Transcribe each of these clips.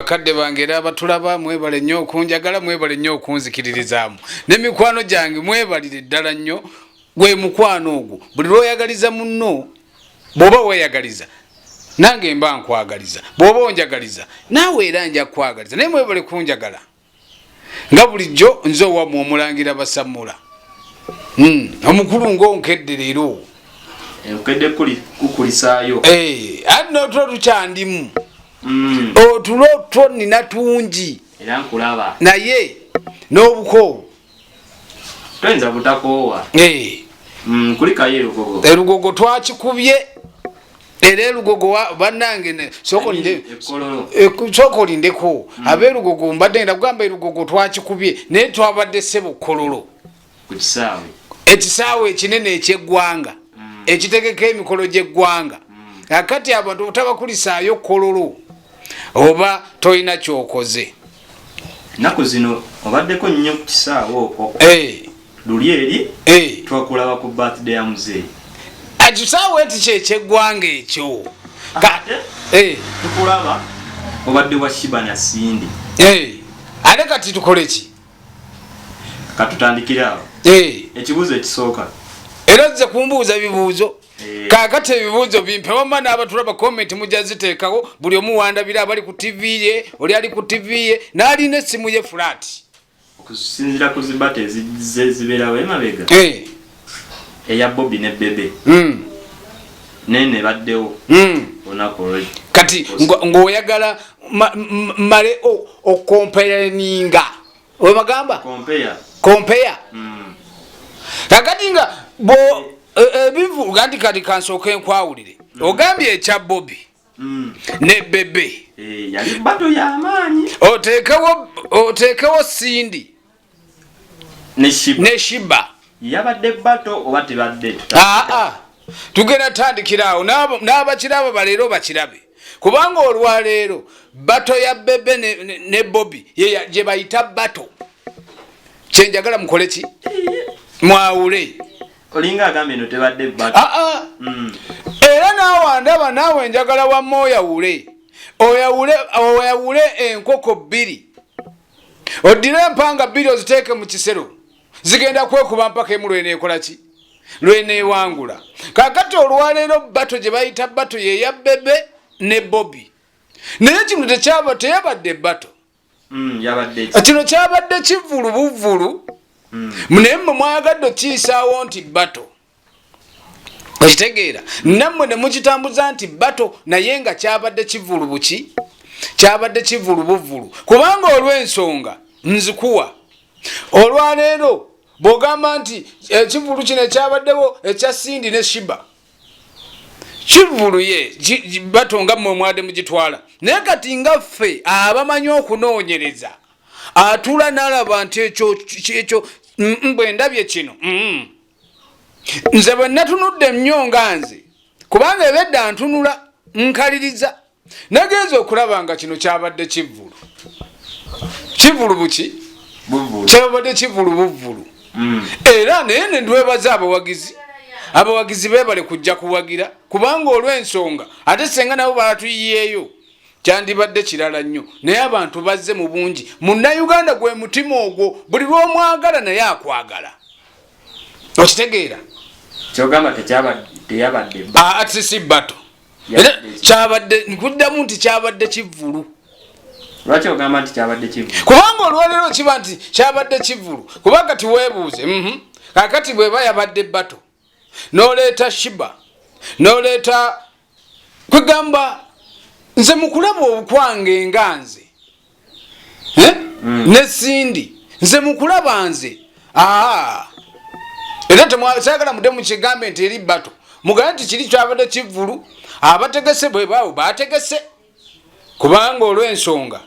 bakadde bange era abatulaba mwebale nnyo okunjagala mwebale nnyo okunzikiririzaamu ne mikwano gyange mwebalire ddala nnyo gwe mukwano ogwo buli lwoyagaliza munno bwoba weyagaliza nange mba nkwagaliza bwoba onjagaliza naawe era nja kukwagaliza naye mwebale kunjagala nga bulijjo nze owamwe omulangira basamula hmm, omukulu ngaonkedde leero eh, anno otwo tukyandimu hmm. otulo two nina tungi naye n'obukoowu Twenza butakoowa. Eh. Mm, kulikayo elugogo. Elugogo twakikubye era elugogo bannange soko lindeko mm. abeelugogo mbadde ngenda kugamba elugogo twakikubye naye twabadde sebo kololo ekisaawe ekinene ekyeggwanga mm. ekitegeka emikolo gyeggwanga mm. akati abantu obutabakulisaayo kololo oba tolina kyokoze Naku zino obaddeko nnyo ku kisaawe okwo. Eh. Luli eri eh. twakulaba ku birthday ya muzeeyi. Ekisaawe nti kyekyeggwanga ekyo. Ate eh. tukulaba obadde wa Shiba na Cindy. Eh. Ate kati tukole ki? Katutandikire awo. Eh. Ekibuuzo ekisooka. Era ozze kumbuuza bibuuzo. Eh. kakati ebibuuzo bimpe wamma n'abatulaba komenti mujja ziteekawo buli omu wandabira abali ku tivi ye oli ali ku tivi ye n'alina essimu ye fulaati okusinzira ku zibata ezizze zibeerawo emabega eh. eya bobi ne bebe hmm. naye ne baddewo hmm. olunaku olwe kati ng'oyagala male okomperaninga webagamba compare compare mm. kakati nga bo ebivu eh, eh, gandi kati kansooka enkwawulire mm. ogambye ekya bobi mm. ne bebe eh, yali bato yamaanyi oteekewo oteekewo sindi ne shiba yabadde bato oba tebadde aa ah, ah. tugenda tandikiraawo n'abakiraabo baleero bakirabe kubanga olwaleero bato ya bebe ne, ne, ne bobi gye bayita bato kyenjagala mukole ki mwawule olinga agamba eno tebadde bato ah, ah. Mm. era naawe ndaba naawe njagala wamma oyawule oyawule oyawule enkoko bbiri oddire empanga bbiri oziteeke mu kisero zigenda kwekuba mpaka emu lweneekola ki lweneewangula kakati olwaleero bato gye bayita bato yeya bebe ne bobi naye kino tekyaba teyabadde bato mm, kino kyabadde kivulu buvulu mm. naye mwe mwagadde okiyisaawo nti bato okitegeera nammwe ne mukitambuza nti bato naye nga kyabadde kivulu buki kyabadde kivulu buvulu kubanga olw'ensonga nzikuwa olwaleero bw'ogamba nti ekivulu kino ekyabaddewo ekya sindi ne shiba kivuluye bato nga mmwe omwade mugitwala naye kati nga ffe abamanyi okunoonyereza atuula n'alaba nti ekyo bwe ndabye kino mm, nze bwe natunudde nnyo nga nze kubanga ebedda ntunula nkaliriza nagenza okulaba nga kino kyabadde kivvulu kivvulu buki kyabadde kivvulu buvvulu mm. era naye nendwebaza abawagizi abawagizi bebale kujja kuwagira kubanga olw'ensonga ate senga nabo baatuyiyeeyo kyandibadde kirala nnyo naye abantu bazze mu bungi munnayuganda gwe mutima ogwo buli lw'omwagala naye akwagala okitegeera kyogamba teyabadde ah, atisi bato kyabadde nkuddamu nti kyabadde kivulu lwaki ogamba nti kyabadde kivulu kubanga olwaleero kiba nti kyabadde kivulu kuba kati weebuuze mhm. kakati bweba yabadde bato noleeta shiba noleeta kwegamba nze mukulaba okwange nga nze eh? mm. ne sindi nze mukulaba nze aa era temwasagala mude mukigambe nti eri bato mugala nti kiri kyabadde kivulu abategese bwebaawo bategese kubanga olwensonga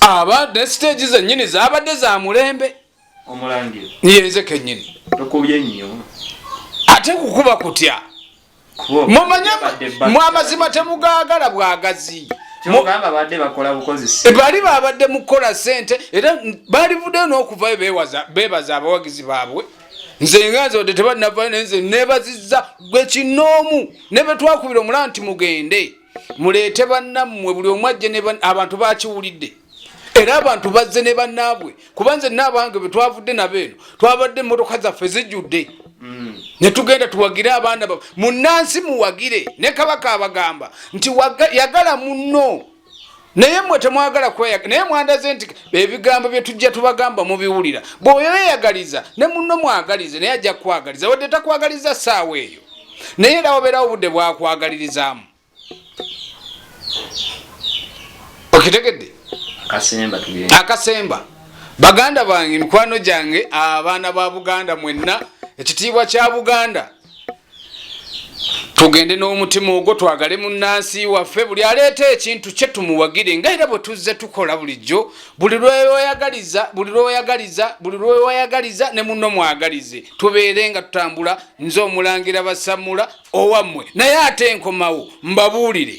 aba ne siteegi zenyini zabadde za mulembe yenze kenyini ate kukuba kutya mumanye mwamazima temugagala bwagazi eh, bali babadde mukukola sente era balivuddeyo n'okuvayo bebaza abawagizi baabwe nze nganze wadde tebalinavayo naye nze nebaziza gwe kinoomu ne betwakubira omulaba nti mugende muleete bannammwe buli omu ajje abantu bakiwulidde era abantu bazze ne bannaabwe kuba nze naabange bwe twavudde nabo eno twabadde emmotoka zaffe zijjudde mm. ne tugenda tuwagire abaana ba munnansi muwagire ne kabaka abagamba nti yagala munno naye mwe temwagala kweyaga naye mwandaze nti ebigambo bye tujja tubagamba mubiwulira bw'oyo yeyagaliza ne munno mwagalize naye ajja kukwagaliza wadde takwagaliza ssaawa eyo naye era wabeerawo obudde bwakwagalirizaamu okitegedde akasemba baganda bange mikwano gyange abaana ba buganda mwenna ekitiibwa kya buganda tugende n'omutima ogwo twagale mu nnansi waffe buli aleeta ekintu kye tumuwagire nga era bwe tuzze tukola bulijjo buli lwewayagaliza buli lwewayagaliza buli lwewayagaliza ne munno mwagalize tubeere nga tutambula nze omulangira basamula owammwe naye ate nkomawo mbabuulire